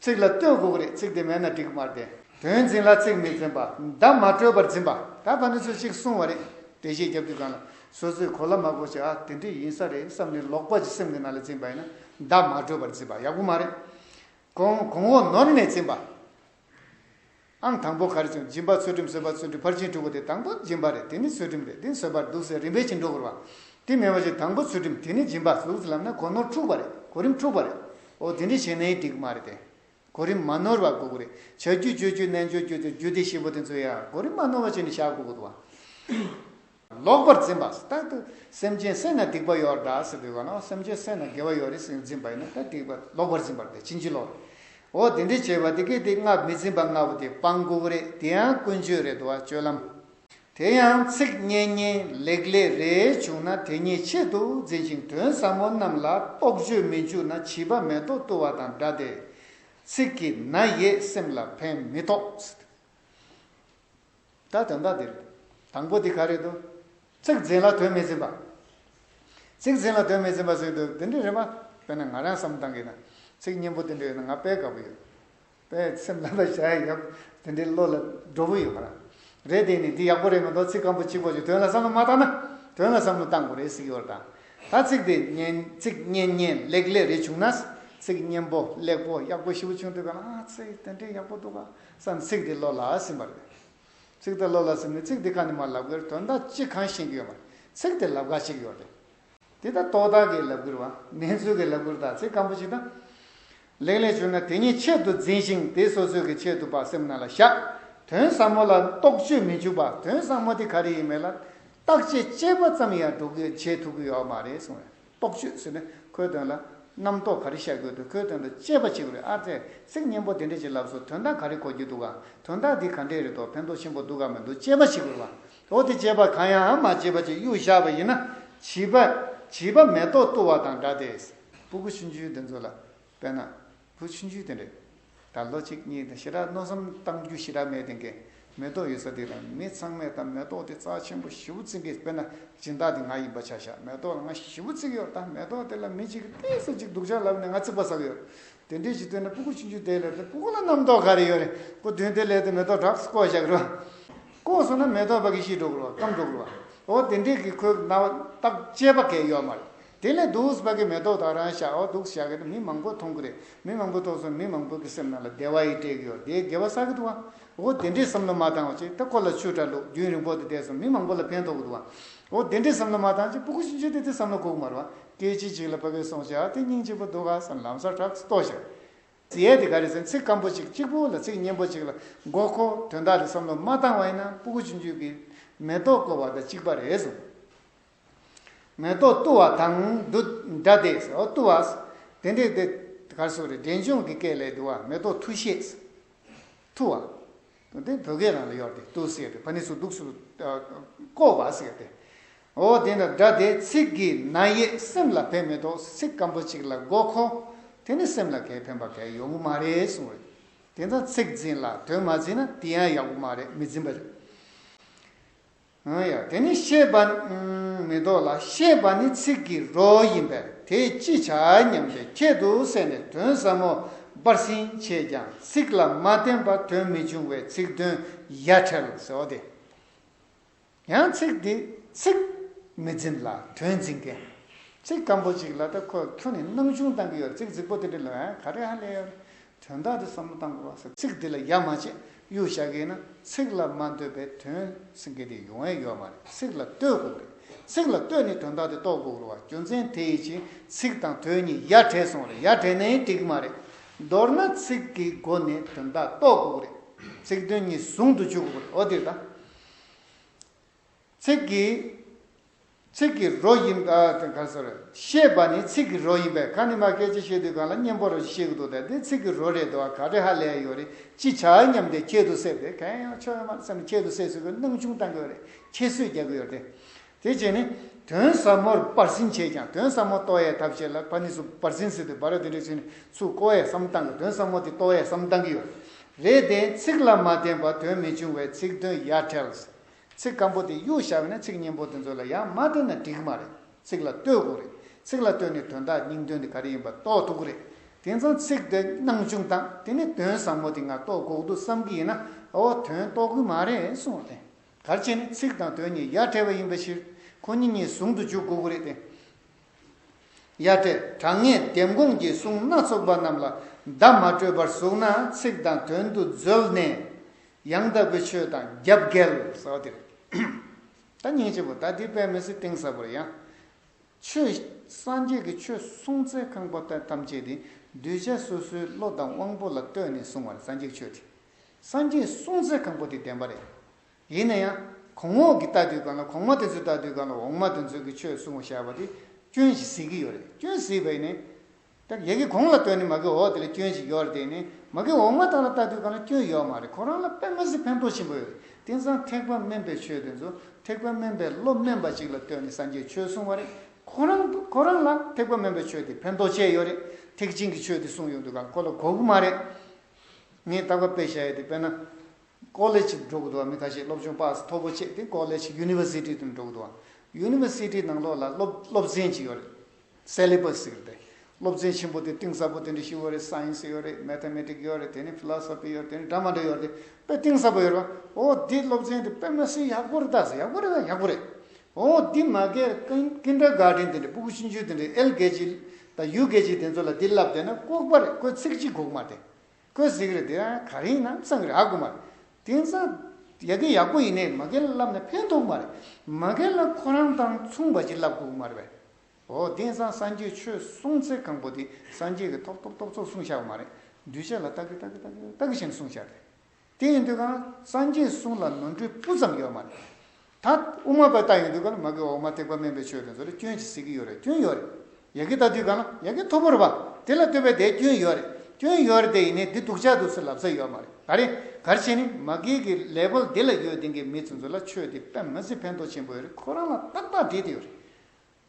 ཚིག་ལ་བསྟོད་དགོས་ཀྱི་རེད་ཚིག་དེ་མེད་ན་འགྲིག་གི་མ་རེད། དོན་འཛིན་ལ་ཚིག་མི་འཛིན་པ། བརྡ་མ་སྤྲོད་པར་འཛིན་པ། ད་བར་ནི་ཚོས་གཅིག་གསུངས་བ་རེད། འགྲེལ་བཤད་རྒྱབ་རྒྱུ་གང་ལ། སོ་སོས་གོ་སླ་མ་གོ་ཆ་ཨ་དེ་འདྲས་ཡིན་ས་རེད་བསམ་ནས་ལོག་པ་ཅིག་སེམས་ཀྱི་ནང་ལ་འཛིན་པ་ཡིན་ན། བརྡ་མ་སྤྲོད་པར་འཛིན་པ་ཡག་པོ་མ་རེད། གོང་འོག་ནོར་ནས་འཛིན་པ། ཨང་དང་པོ་གར་བྱུང་སྦྱིན་པ་ཚུལ་ཁྲིམས་བཟོད་པ་ཚུལ་ཁྲིམས་ཕར་ཕྱིན་དྲུག་པོ་དེ་དང་པོ་སྦྱིན་པ་རེད་དེ་ནི་ཚུལ་ཁྲིམས་རེད་དེ་ནི་བཟོད་པར་འདུག་ཟེར་རིམ་པས་ཕྱིན་དྲུག་གོ། དེ་མེད་པ་བཞིན་དང་པོ་ཚུལ་ཁྲིམས་དེ་ནི་སྦྱིན་པ་གཟུགས་ཚུལ་ལམ་ནས་གོ་ནོར་འཁྲུགས་པ་རེད་གོ་རིམ་འཁྲུགས་པ་རེད། འོ་དེ་འདྲའི་བྱས་ནའི་འགྲིག་མ་རེད་དེ། གོ་རིམ་མ་ནོར་བ་གོ་གི་རེད་བྱ་རྒྱུ་སྤྱོད་རྒྱུ་རྣལ་འབྱོར་རྒྱུ་དེ་རྒྱུ་དེ་བཞི་པོ་དེ་ཚོ་ཡང་གོ་རིམ་མ་ནོར་བ་བྱས་ནས་བཞག་གོ་གི་འདུག་བ། ལོག་པར་འཛིན་པ་རྟག་ཏུ་སེམས་ཅན་བསད་ན་སྡིག་པ་ཡོ་ར་འདྲ་ཟེར་བའི་བར་ནའོ་སེམས་ཅན་བསད་ན་དགེ་བ་ཡོ་རེ་ཟེར་འཛིན་པ་ཡིན་ན་ད་སྡིག་པ་ལོག་པར་འཛིན་པར་ཐལ་ཕྱིན་ཅི་ལོག་རེད། འོ་དེ་འདྲའི་བྱེད་པ་དེ་གལ་ཏེ་སྔར་མི་འཛིན་པ་ལྔ་པོ་དེ་སྤང་དགོས་པོ་རེད་དེ་ཡང་ཀུན་སྤྱོད་རེད་དོ་སྤྱོད་ལམ། དེ་ཡང་ཚིག་སྙན་སྙན་ལེགས་ལེགས་རེ་བྱུང་ན་དེ་ཉིད་ཆེད་དུ་འཛིན་ཅིང་དོན་ཟབ་མོ་རྣམས་ལ་རྟོག་དཔྱོད་མི་འཇུག་ན་བྱིས་པ་མེ་ཏོག་བཏུ་བ་དང་འདྲ་སྟེ། ཚིག་གིས་ན་ཡེ་སེམས་ལ་ཕན་མི་ཐོགས། ད་དོན་དག་འདིར། དང་པོ་འདི་ག་རེད་དོ། ཚིག་འཛིན་ལ་དོན་མི་འཛིན་པ། ཚིག་འཛིན་ལ་དོན་མི་འཛིན་པ་ཟེར་འདུག་དེ་འདྲའི་རེད་མ། དཔེར་ན་ང་རང་བསམ་བཏང་གིས་ན། ཚིག་སྙན་པོ་དེ་འདྲ་ཡོད་ན་ང་དཔེ་དགའ་པོ་ཡོད། དཔེ་སེམས་ལ་ལ་བཞག་ཡག་པོ་དེ་འདྲའི་བློ་ལ་སྒྲོ་བོ་ཡོད་མ་རང། རེད་དེ་ནི་འདི་ཡག་པོ་རེད་མི་འདུག་ཚིག་སྐམ་པོ་གཅིག་པོ་ཞིག་དོན་ལ་བསམ་བློ་མ་བཏང་ན། དོན་ལ་བསམ་བློ་བཏང་དགོས་རེད་གཟིགས་ཡོར་དང། ད་ཚིག་དེ་སྙན་ཚིག་སྙན་སྙན་ལེགས་ལེགས་རེ་བྱུང་ན། ཚིག་སྙན་པོ་ལེགས་པོ་ཡག་པོ་ཞིག་བྱུང་འདུག་ག་ལ་ཨ་ཚེ་དེ་འདྲའི་ཡག་པོ་འདུག་ག། སམ་ཚིག་འདི་བློ་ལ་སིམ་པ་རེད། ཚིག་འདི་བློ་ལ་སིམ་ནས་ཚིག་འདི་ག་ནས་མར་ལབ་ཀིར་དོན་དག་ཅིག་གང་ཤེས་ཀི་ཡོད་མ་རེད། ཚིག་དེ་ལབ་ག་ཅིག་ཡོད་རེད། འདི་ལྟར་རྟོག་བཏགས་ཀིས་ལབ་ཀིར་བ། གནས་ཚུལ་གིས་ལབ་ཀིར་དག་ཚིག་སྐམ་པོ་ཅིག་དང། ལེགས་ལེགས་བྱུང་ན་དེ་ཉིད་ཆེད་དུ་འཛིན་ཞིང་དེ་སོ་སོའི་ཀི་ཆེད་དུ་བག་སེམས་རྣ་ལ་བཞག། དོན་ཟབ་མོ་ལ་རྟོག་དཔྱོད་མི་འཇུག་པ་དོན་ཟབ་མོ་དེ་ག་རེ་ཡིན་མེད་ལ། བརྟག་དཔྱད་དཔྱད་པ་ཙམ་ཡང་སྒྲོག་ཀིར་བྱེད་ཐུབ་ཀི་ཡོད་མ་རེད་གསུངས་ཡོད། རྟོག་དཔྱོད་ཟེར་ནས་ཁོའི་དོན་ལ། རྣམ་རྟོག་ག་རེ་བཤད་དགོས་འདུག་ཁོའི་དོན་དུ་དཔྱད་པ་བྱེད་དགོས་རེད་ཨ་ཙེ། ཚིག་སྙན་པོ་དེ་འདྲས་ཀྱི་ལབ་སོ་དོན་དག་ག་རེ་གོ་རྒྱུ་འདུག་ག། དོན་དག་འདི་ག་འདྲས་རེད་དོ་ཕན་ཐོག་ཆེན་པོ་འདུག་ག་མི་འདུག་དཔྱད་པ་བྱེད་དགོས་རེད་པ། འོ་དེ་དཔྱད་པ་གང་ཡང་མ་བྱས་པ་ཅིག་གཡུག་བཞག་པ་ཡིན་ན། བྱིས་པ། བྱིས་པ་མེ་ཏོག་བཏུ་བ་དང་འདྲ་སྟེ། སྤུ་གུ་ཆུང་ཆུང་དེ་ཚོ་ལ་དཔེར་ན། བུ་ཆུང་ཆུང་དེ་འདྲས་ད་ལོ་གཅིག་གཉིས་དང་ཞེ་དྲག་མནོ་བསམ་གཏང་རྒྱུ་ཞེ་དྲག་མེད་དེང་གི་མེ་ཏོག་ཡོད་ས་དེ་དང་མི་ཚང་མས་ད་མེ་ཏོག་དེ་རྩ་ཆེན་པོ་བཞི་བོ་བརྩིག་གི་དཔེར་ན་སྦྱིན་བདག་དེ་ང་ཡིན་པ་ཆ་ཤག་མེ་ཏོག་ལ་ང་བཞི་བོ་བརྩིག་གི་ཡོད་ད་མེ་ཏོག་དེ་ལ་མི་གཅིག་གི་ལྟས་ས་གཅིག་སྡུག་ཅག་ལབ་ནས་ང་བརྩིག་པ་བསགས་ཡོད་དེ་འདྲས་ཀྱི་དོན་ན་སྤུ་གུ་ཆུང་ཆུང་དེ་ལས་དེ་སྤུ་གུ་ལ་རྣམ་རྟོག་ག་རེ་ཡོད་རེད་སྤུ་བདུན་དེ་ལས་དེ་མེ་ཏོག་གྲགས་སུ་བསྐོ་བཞག་རོ། བསྐོ་སོང་ན་མེ་ཏོག་བ་གི་གཞི་འགྲོ་དགོས་བ་སྐམ་འགྲོ་དགོས་བ་འོ་དེ་འདྲས་ཀྱི་ཁོའི་རྣ་བ་རྟགས་དཔྱད་པ་གས་ཡོད་མ་རེད་དེ་ནས་རྡོ་ཨུས་བ་གའི་མེ་ཏོག་དག་རང་བཞག་འདུག་བཞག་གི་མི་མང་པོ་མཐོང་གི་རེད་མི་མང་པོ་མཐོང་སོང་མི་མང་པོ་གི་སེམས་ནང་ལ་བདེ་བ་ཡི་སྤྲེལ་གི་ཡོ་དེ་དགེ་བ་བསགས་གི་འདུག་བ་འོ་དེ་འདྲའི་བསམ་བློ་མ་བཏང་བ་ཅིག་ད་ཁོ་ལ་ཆུ་དྲ་ལུག་རྒྱུན་རིང་པོ་དེ་བསྡད་སོང་མི་མང་པོ་ལ་ཕན་ཐོག་གི་འདུག་བ་འོ་དེ་འདྲའི་བསམ་བློ་མ་བཏང་ཅིག་པུ་གུ་ཤིན་ཅོ་དེ་དེ་བསམ་བློ་ཁུག་མ་རུ་བ་སྐད་ཅིག་གཅིག་ལ་བ་གའི་སོང་བཞག་དེ་སྙིང་གཅིག་པོ་འདུག་ག་བསམ་ལམ་སར་གྲགས་ལྟོ་བཞག་ཙི་ཡས་དེ་ག་རེད་ཟེར་ཚིག་སྐམ་པོ་ཅིག་གཅིག་པུ་ལ་ཚིག་སྙན་པོ་ཅིག་ལ་འགོག་གོ་དོན་དག་རེད་བསམ་བློ་མ་བཏང་བ་ཡིན་ན་པུ་གུ་ཆུ་འཇུས་གི་མེ་ཏོག་བཀོལ་བ་དང་གཅིག་པ་རེད་ཟུང། མེ་ཏོག་བཏུ་བ་དང་བསྡུ། སྒྲ་བཟླས་སོ། བཏུ་བ། དེ་འདྲའི་དེ། གར་སོགས་རེ་འབྲེལ་འབྱུང་གི་སྐད་ལས་བསྡུ་བ་མེ་ཏོག་འཐུ་ཤེས། འཐུ་བ། དེ་བོད་སྐད་རང་ལ་ཡོད་དེ་བཏུ་ཟེར་ཏེ་བ་ནི་སུ་གདུགས་སུ། བསྐོར་བ་ཟེར་ཏེ། འོ་དེ་ནི་སྒྲ་བཟླས་ཚིག་གི་ན་ཡེ་སེམས་ལ་ཕན་མི་ཐོག་ཚིག་སྐམ་པོ་ཅིག་ལ་དགོས་ཁོ། དེ་ནི་སེམས་ལ་གལ་ཕན་པ་གལ་ཡོང་གི་མ་རེད་གསུང་བས། དེ་འདྲ་ཚིག་འཛིན་ལ་དོན་མ་འཛིན་ན་དེ་ཡང་ཡག་པོ་མ་རེད་མི་འཛིན་པ་རེད། ཡང་དེ་ནི་ཤེས་པ། མི་ལྡོག་ལ་ཤེས་པ་ནི་ཚིག་གི་རོ་ཡིན་པས་དེས་ཅི་བྱ་སྙམ་སྟེ་ཁྱད་དུ་བསད་ནས་དོན་ཟབ་མོ་སྦར་ཟིན་བྱས་ཀྱང་ཚིག་ལ་མ་བརྟེན་པ་དོན་མི་འབྱུང་བས་ཚིག་དོན་ཡ་བྲལ་ཟེར་བ་དེ་ཡང་ཚིག་འདི་ཚིག་མི་འཛིན་ལ་དོན་འཛིན་མཁན་ཚིག་སྐམ་པོ་ཅིག་ལ་ད་ཁོ་ཁྱོད་ནི་སྣང་ཆུང་བཏང་གི་ཡོད་ཚིག་རྫིག་པོ་དེ་འདྲ་ལོས་ག་རེ་ཧ་ལས་ཡོད་དོན་དག་འདི་བསམ་བློ་བཏང་དགོས་པ། ཚིག་འདི་ལ་ཡ་མ་བྱེད་གཡུ་བྱ་གིན་ན་ཚིག་ལ་མ་འདོད་པའི་དོན་སེང་གེ་དེ་ཡོང་ཨེ་ཡོད་མ་རེད་ཚིག་ལ་ལྟོས་དགོས་རེད་ཚིག་ལ་ལྟོས་ནས་དོན་དག་དེ་རྟོགས་དགོས་རུ་བ་རྒྱུ་མཚན་དེ་ཡི་ཕྱིན་ཚིག་དང་དོན་གཉིས་ཡ་བྲལ་སོང་རེད་ཡ་བྲལ་ནའི་འགྲིག་མ་རེད་མདོར་ན་ཚིག་གི་སྒོ་ནས་དོན་དག་རྟོགས་དགོས་རེད་ཚིག་དོན་གཉིས་ཟུང་དུ་འཇུག་དགོས་རེད་འོ་དེ་ལྟ་ཚིག་གི། ཚིག་གི་རོ་ཡིན། ཤེས་པ་ནི་ཚིག་གི་རོ་ཡིན་པས་གང་ནི་མ་སྐད་ཅིག་ཤེས་དུས་གང་ལ་གཉེན་པོར་རོ་ཞིག་ཤེས་ཀྱི་འདུག་ད་འདི་ཚིག་གི་རོ་རེད་འདུག་ཨ་ག་རེ་ཧ་ལས་ཡོད་རེད་ཅི་བྱ་སྙམ་སྟེ་ཁྱད་དུ་བསད་དེ་གང་ཡང་ཆོག་ཡོད་མ་རེད་བསམ་ནས་ཁྱད་དུ་བསད་བཟོ་བའི་སྣང་ཆུང་གཏང་གི་ཡོད་རེད་ཁྱད་གསོད་རྒྱག་གི་ཡོད་རེད་དེ། དེ་རྗེས་ནི་དོན་ཟབ་མོར་སྤར་ཟིན་བྱས་ཀྱང་དོན་ཟབ་མོ་ལྟོ་ཨའི་ཐབས་ཤེས་ལ་ཕ་ནི་སུ་སྤར་ཟིན་ཟེར་དུས་སྦ་ར་དེ་འདྲའི་ཚུལ་ནི་སུ་ཀོ་ཨའི་བསམ་བཏང་གི་དོན་ཟབ་མོ་དེ་ལྟོ་ཨའི་བསམ་བཏང་གི་ཡོད་རེད་དེ། ཚིག་ལ་མ་བརྟེན་པར་དོན་མི་འབྱུང་བས་ཚིག་དོན་ཡ་བྲལ། ཚིག་སྐམ་པོ་དེ་གཡུག་བཞག་ནས་ཚིག་སྙན་པོ་དེ་ཚོ་ལ་ཡང་མ་བལྟས་ན་འགྲིག་གི་མ་རེད། ཚིག་ལ་ལྟོས་དགོས་རེད། ཚིག་ལ་ལྟོས་ནས་དོན་དག་སྙིང་དོན་དེ་ག་རེ་ཡིན་པ་རྟོགས་ཐུབ་ཀི་རེད། དེང་སང་ཚིག་དེ་སྣང་ཆུང་དང་དེ་ནས་དོན་བཟང་མོ་དེ་འང་རྟོགས་དགོས་འདུག་བསམ་གི་ཡིན་ན་འོ་དོན་རྟོགས་གི་མ་རེད་གསུང་བ་དེ། གལ་ཆེ་ནི་ཚིག་དང་དོན་གཉིས་ཡ་བྲལ་བ་ཡིན་པ་ཞིག་ཁོ་གཉིས་གཉིས་ཟུང་དུ་འཇུག་དགོས་ཀི་རེད་དེ། གཡའ་སྤྲས་དྲང་ངེས་ལྡེམ་དགོངས་ཀྱི་གསུང་སྣ་ཚོགས་པ་རྣམས་ལ་བརྡ་མ་སྤྲོད་པར་གཟུགས་ན་ཚིག་དང་དོན་དུ་འཛོལ་ནས། ཡང་དག་པའི་ཆོས་དང་རྒྱབ་འགལ་ཟ་བ་འདི་རེད། ད་སྙིང་རྗེ་བོ་ད་འདི་དཔལ་མི་སྲིད་གཏིང་ཟབ་པར་ཡང། ཆོས། སངས་རྒྱས་ཀྱི་ཆོས་གསུང་ཚད་ཁང་པ་དེ་ཐམས་ཅད་དེ་གདུལ་བྱ་སོ་སོའི་བློ་དང་དབང་པོ་ལ་ལྟོས་ནས་གསུང་བ་རེད་སངས་རྒྱས་ཀྱི་ཆོས་དེ། སངས་རྒྱས་གསུང་ཚད་ཁང་པ་དེ་བདེན་པ་རེད། ཡིན་ན་ཡང་གོང་འོག་གི་ལྟ་དུས་གང་ལ་གོང་མ་དེ་ཚོའི་ལྟ་དུས་གང་ལ་འོག་མ་དེ་ཚོའི་གི་ཆོས་གསུང་བ་བཞག་པ་དེ་སྐྱོན་ཞིག་གཟིགས་ཀི་ཡོད་རེད་སྐྱོན་གཟིགས་པ་ཡིན་ནི། ད་གི་གི་གོང་ལ་ལྟོས་ནི་མ་གི་འོག་དེ་ལ་སྐྱོན་ཞིག་ཡོད་རེད་དེ་ཡིན་ནི་མ་གི་འོག་མ་དང་ལ་ལྟ་དུས་གང་ལ་སྐྱོན་ཡོད་མ་རེད་ཁོ་རང་ལ་པད་མ་གཟིགས་ཕན་ཐོག་ཆེན་པོ་ཡོད་རེད་དེང་སང་ཐེག་པ་དམན་པའི་ཆོས་དེ་ཚོ་ཐེག་པ་དམན་པའི་བློ་དམན་པ་ཅིག་ལ་ལྟོས་ནི་སངས་རྒྱས་ཆོས་གསུང་བ་རེད་ཁོ་རང་ཁོ་རང་ལ་ཐེག་པ་དམན་པའི་ཆོས་དེ་ཕན་ཐོག་ཆེ་ཡོད་རེད་ཐེག་ཆེན་གི་ཆོས་དེ་གསུང་ཡོང་དུས་གང་ལ་ཁོ་ལ་གོ་གི་མ་རེད་ངས་ལྟ་བ་དཔེ་བཞག་ཡོད་དེ་དཔེ་ན། College། འགྲོ་དགོས་འདུག་བ་མི་ཁ་ཤས་སློབ་ཆུང་པགས་ས་མཐོ་པོ་བྱས་ཏེ College University དུ་འགྲོ་དགོས་འདུག་བ University ནང་ལོགས་ལ་སློབ་སློབ་ཚན་གཅིག་ཡོད་རེད Syllabus ཟེར་ཏེ། སློབ་ཚན་ཆེན་པོ་དེ་གཏིང་ཟབ་པོ་དེ་འདྲ་ཞིག་ཡོད་རེད Science ཡོད་རེད Mathematics ཡོད་རེད་དེ་ནས Philosophy ཡོད་རེད་དེ་ནས་འདྲ་མ་འདྲ་ཡོད་རེད་དཔེ་གཏིང་ཟབ་པོ་ཡོད་རེད་བ་འོ་འདི་སློབ་ཚན་དེ་དཔེ་མ་ཟིན་ཡག་པོ་རེད་ད་ཟེར་ཡག་པོ་རེད་ད་ཡག་པོ་རེད་འོ་འདི་མ་གལ་ཀིན Kindergarten དེ་འདྲ་པུ་གུ་ཆུང་ཆུང་དེ་འདྲ་ཨེལ་གེ་ཇི་དང་ཡུ་གེ་ཇི་དེ་ཚོ་ལ་འདི་བསླབས་བསྡད་ན་ལྐོག་པ་རེད་ཁོས་ཚིག་གཅིག་གོ་གི་མ་རེད། ཀོས་ཟིག་རེད་དེ་ག་རིང་ན་ཚང་གི་ར་དགོས་མ་རེད་དེང་སང་ཡག་གི་ཡག་པོ་ཡིན་ནའི་མ་གལ་ལབ་ན་ཕན་ཐོག་མ་རེད་མ་གལ་ན་ཁོ་རང་དང་མཚུངས་པ་ཅིག་ལབ་དགོས་མ་རེད་བས་ཨོ་དེང་སང་སངས་རྒྱས་ཆོས་གསུངས་ཚེ་གང་པོ་དེ་སངས་རྒྱས་ཀྱི་ཐོག་ཐོག་ཐོག་ཚོགས་གསུངས་ཤག་མ་རེད་འདུས་བྱས་ལ་ལྟ་གི་ལྟ་གི་ལྟ་གི་ལྟ་གི་བཞིན་གསུངས་ཤག་རེད་དེ་ཡིན་དུས་གང་སངས་རྒྱས་གསུངས་ལ་ནོར་འཁྲུལ་སྤུ་ཙམ་ཡོད་མ་རེད་ད་དབུ་མ་པའི་རྟགས་ཡིན་དུས་གང་ལ་མ་དགེ་བ་འོག་མ་ཐེག་པ་དམན་པའི་ཆོས་དེ་ཚོ་ལ་སྐྱོན་གྱིས་སྲིད་ཀྱི་ཡོད་རེད་སྐྱོན་ཡོད་རེད་ཡ་གི་ད་དུས་གང་ལ་ཡ་གི་ཐོར་བུར་བ་དེ་ལ་ལྟོས་པའི་དེ་སྐྱོན་ཡོད་རེད་སྐྱོན་ཡོད་རེད་དེ་ཡིན་ནའི་འདི་སྡུག་ཅག་འདུག་ཚུལ་ལབ་ས་ཡོད་མ་རེད་ག་རེད་གར་བྱེད་ནི་མ་དགེ་གི་ལས་བོལ་དེ་ལ་ཡོད་དེང་གི་མི་ཚོན་ཚོ་ལ་ཆོས་དེ་དཔེ་མི་སྲིད་ཕན་ཐོག་ཆེན་པོ་ཡོད་རེད་ཁོ་རང་ལ་ཏག་ཏག་བྲིས་དེ་ཡོད་རེད་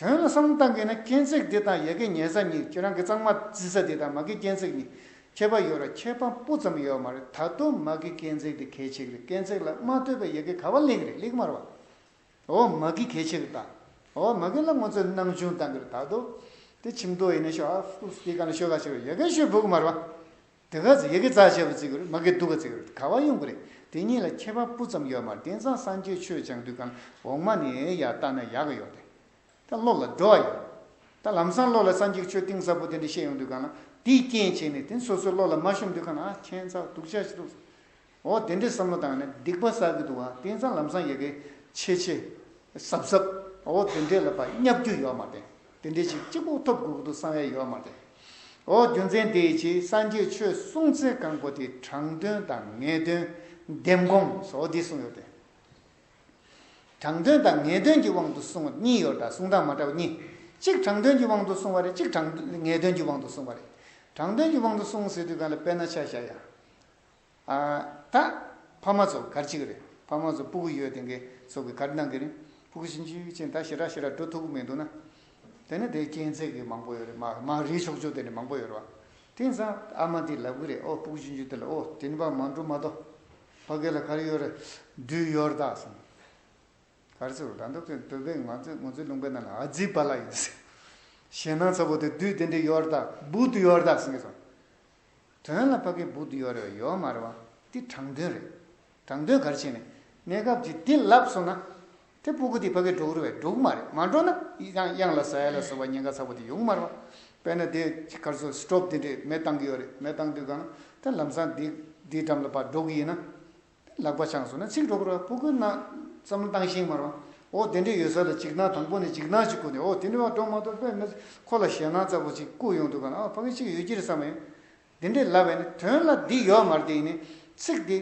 དོན་ལ་བསམ་བློ་གཏང་དགོས་ན་སྐྱེན་ཚེག་འདི་དང་ཡ་གི་ཉལ་ས་གཉིས་ཁྱེད་རང་གི་གཙང་མ་བརྫི་ས་འདི་དང་མ་གི་སྐྱེན་ཚེག་གཉིས་ཁྱད་པ་ཡོད་ར་ཁྱད་པ་སྤུ་ཙམ་ཡོད་མ་རེད་ད་དུང་མ་གི་སྐྱེན་ཚེག་འདི་གལ་ཆེག་རེད་སྐྱེན་ཚེག་ལ་མ་ལྟོས་པའི་ཡ་གི་ག་བ་ལེགས་རེད་ལེགས་མ་ར་བ་འོ་མ་གི་གལ་ཆེག་རེད་ད་འོ་མ་གི་ལ་ངོ་ཚོས་སྣང་ཆུང་གཏང་གི་རེད་ད་དོ་དེ་ཆིམ་ཐོ་ཡིན་ན་ཤོ་ཨ་ཕུ་སི་ཏི་ག་ན་ཤོ་ག་ཆེ་རེད་ཡ་གི་ཤོ་བུག་མ་ར་བ་དེ་ག་ཚོད་ཡི་གེ་རྩ་ཆེ་བ་བརྩི་གི་རེད་མ་གི་སྡུག་ག་བརྩི་གི་རེད་ག་བ་ཡོང་གི་རེད་དེ་གཉིས་ལ་ཁྱད་པར་སྤུ་ཙམ་ཡོད་མ་རེད་དེང་སང་སངས་རྒྱས་ཆོས་སྦྱང་དུས་གང་འོག་མ་ནས་ཡར་བལྟ་ན་ཡག་གི་ཡོད་རེད་ད་སློབ་ལ་འགྲོ་བ་ཡིན་ད་ལམ་སང་སློབ་ལ་སངས་རྒྱས་ཆོས་གཏིང་ཟབ་པོ་དེ་འདྲ་བཤད་ཡོང་དུས་གང་ལ་དེའི་རྐྱེན་བྱས་ནས་དེ་སོ་སོའི་སློབ་ལ་མ་ཤོམ་དུས་གང་ལ་ཨ་ཁྱེད་ཚ་སྡུག་ཅག་ཅིག་འདུག་འོ་དེ་འདྲའི་བསམ་བློ་དང་ནི་སྡིག་པ་བསགས་ཀྱི་འདུག་བ་དེང་སང་ལམ་སང་ཡི་གེ་ཆེ་ཆེ། ཟབ་ཟབ། འོ་དེ་འདྲའི་ལ་བ་བསྙབ་རྒྱུ་ཡོད་མ་རེད། དེ་འདྲའི་ཞིག་གཅིག་པུ་ཐོབ་དགོས་ཀྱི་འདུག་བསམ་ཡ་ཡོད་མ་རེད། འོ་རྒྱུ་མཚན་དེ་ཡི་ཕྱིར་སངས་རྒྱས་ཆོས་གསུང་ཚན་གང་པོ་དེའི་དྲང་དོན་དང་ངེས་དོན། ལྡེམ་དགོངས་སོགས་འདི་གསུངས་ཡོད་དེ། དྲང་དོན་དང་ངེས་དོན་གྱི་དབང་དུ་གསུངས་བ་གཉིས་ཡོད་དྲ་གསུང་དང་མ་དྲ་བ་གཉིས། གཅིག་དྲང་དོན་གྱི་དབང་དུ་གསུངས་བ་རེད་གཅིག་དྲང་ངེས་དོན་གྱི་དབང་དུ་གསུངས་བ་རེད། དྲང་དོན་གྱི་དབང་དུ་གསུངས་ཟེར་དུས་གང་ལ་དཔེ་ན་ཆ་བཞག་ཡ། ད། ཕ་མ་ཚོ་གར་གཅིག་རེད་ཕ་མ་ཚོ་སྤུ་གུ་ཡོད་དེ་གའི་ཚོ་གི་གར་གནང་གི་རེད་སྤུ་གུ་ཤིན་ཅུའི་གཅིག་ད་ཞེ་དྲག་ཞེ་དྲག་འགྲོ་ཐུབ་ཀི་མི་འདུག་ན། དེ་ནི་དེའི་རྐྱེན་ཚེག་གི་མང་པོ་ཡོད་རེད་མ་མ་རེད་ཆོག་ཆོག་དེ་ནི་མང་པོ་ཡོད་རེད་བ། དེང་སང་ཨ་མ་འདི་ལབ་གི་རེད་ཨོ་སྤུ་གུ་ཤིན་ཅུ་འདི་ལ་ཨོ་དྲིན་པ་མང་འགྲོ་མ་གཏོགས། ཕ་སྐད་ལ་གར་ཡོད་རེད་བདུད་ཡོར་དག་གསུངས། གར་ཚུར་ལ་འདུག་གི་འདུག་པས་ང་ཚོས་ངོ་ཚོའི་ལུང་པའི་ནང་ལ་ཨ་ཛི་བ་ལ་ཡིན་ཟེར། ཞེད་སྣང་ཚ་བོ་དེ་བདུད་དེ་འདྲའི་ཡོར་དག་བུ་བདུད་ཡོར་དག་གསུངས་གི་སོང། དོན་ལ་ཕ་གི་སྦུག་ཏུ་ཡོ་རེ་བ་ཡོ་མ་རེ་བ་འདི་དྲང་དོན་རེད། དྲང་དོན་གར་བྱས་ནས་གནས་སྐབས་ཀྱི་འདི་ལབ་སོང་ན། དེ་སྤུ་གུ་འདི་ཕ་གི་སྒྲོག་རེ་བས་སྒྲོག་མ་རེད་མ་སྒྲོག་ན་ཡང་གཡང་ལ་ཟ་ཡ་ལ་ཟོ་བ་ཉེན་ཁ་ཚ་བོ་འདི་ཡོང་མ་རེ་བ། དཔེར་ན་དེ་གར་ཚོ་སི་ཏོབ་འདི་འདྲས་མེ་བཏང་གི་ཡོ་རེད་མེ་བཏང་དུས་གང་ན་དེ་ལམ་སང་འདི་འདིའི་འགྲམ་ལ་བ་སྒྲོག་གི་ཡིན་ན། ལག་པ་བཅངས་སོང་ན་ཚིག་སྒྲོག་རོགས་ཨ་སྤུ་ཀུན་ན་བསམ་བློ་བཏང་ཤིང་མ་རོགས་ཨོ་དེ་འདྲས་ཡོད་ས་ལ་འཇིགས་སྣང་དང་པོ་ནས་འཇིགས་སྣང་ཅིག་ཁུར་ནས་ཨོ་དེ་འདྲས་བ་སྒྲོག་མ་ཐུབ་པས་མི་ཁོ་ལ་ཞེད་སྣང་རྩ་པོ་ཅིག་བསྐུར་ཡོང་འདུག་ག་ན་ཨོ་ཕ་གི་ཅིག་ཡོད་ཀྱི་རེད་བསམ་ཡོད་དེ་འདྲས་ལབ་བས་ན་དོན་ལ་འདི་ཡོག་མར་དེ་ཡིན་ནའི་ཚིག་དེ་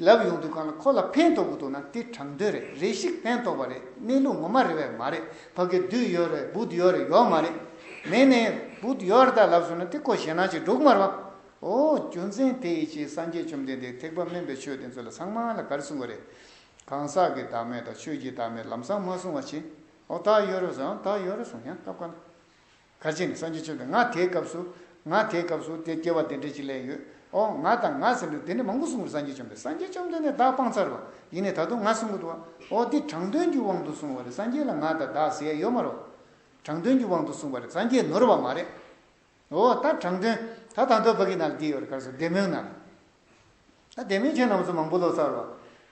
ལབ་ཡོང་དུས་གང་ལ་ཁོ་ལ་ཕན་ཐོག་གི་འདུག་ན་དེ་དྲང་དོན་རེད་རེ་ཞིག་ཕན་ཐོག་པ་རེད་གནས་ལུགས་ངོ་མ་རེད་བས་མ་རེད་ཕ་གི་བདུད་ཡོད་རེད་བུད་ཡོད་རེད་ཡོག་མ་རེད་མེད་ནའི་བུད་ཡོག་རེད་ད་ལབ་སོང་ན་དེ་ཁོ་ཞེད་སྣང་ཅིག་སྒྲོག་མ་རོགས། ཨོ་རྒྱུ་མཚན་དེ་ཡིས་ཀྱིས་སངས་རྒྱས་བཅོམ་ལྡན་འདས་ཐེག་པ་སྨན་པའི་ཆོས་དེ་ཚོ་ལ་ཚང་མ་ལ་གར་གསུང་བ་རེད། གང་ཟག་གི་བདག་མེད་དང་ཆོས་ཀྱི་བདག་མེད་ལམ་སང་མ་གསུང་བ་ཅི། ཨོ་ད་ཡོད་རེད་ཟེར་ཨང་ད་ཡོད་རེད་གསུང་ཡང་སྐབས་ག་ལ། གལ་ཆེ་ནི་སངས་རྒྱས་བཅོམ་ལྡན་ང་དེའི་སྐབས་སུ། ང་དེའི་སྐབས་སུ་དེ་སྐྱེ་བ་དེ་འདྲས་ཅིག་ལས་ཡོད། ཨོ་ང་དང་ང་ཟེར་འདུག་དེ་འདྲས་མང་པོ་གསུང་བར་སངས་རྒྱས་བཅོམ་ལྡན་སངས་རྒྱས་བཅོམ་ལྡན་འདས་བདག་སྤང་ཚར་བ་ཡིན་ནས་ད་དུང་ང་གསུང་གི་འདུག་བ། ཨོ་འདི་དྲང་དོན་གྱི་དབང་དུ་གསུང་བ་རེད་སངས་རྒྱས་ལ་ང་དང་བདག་ཟེར་ཡ་ཡོད་མ་རོགས། དྲང་དོན་གྱི་དབང་དུ་གསུང་བ་རེད་སངས་རྒྱས་ནོར་བ་མ་རེད། ཨོ་ད་དྲང་དོན། ད་ད་འདོད་བོད་ཀྱི་ནག་དེའི་ཡོར་གར་སོ་བདེ་མོའི་ནག། ད་བདེ་མོའི་ཁྱོད་རྣམས་སུ་མང་པོ་ལོ་ཙཱ་རོ།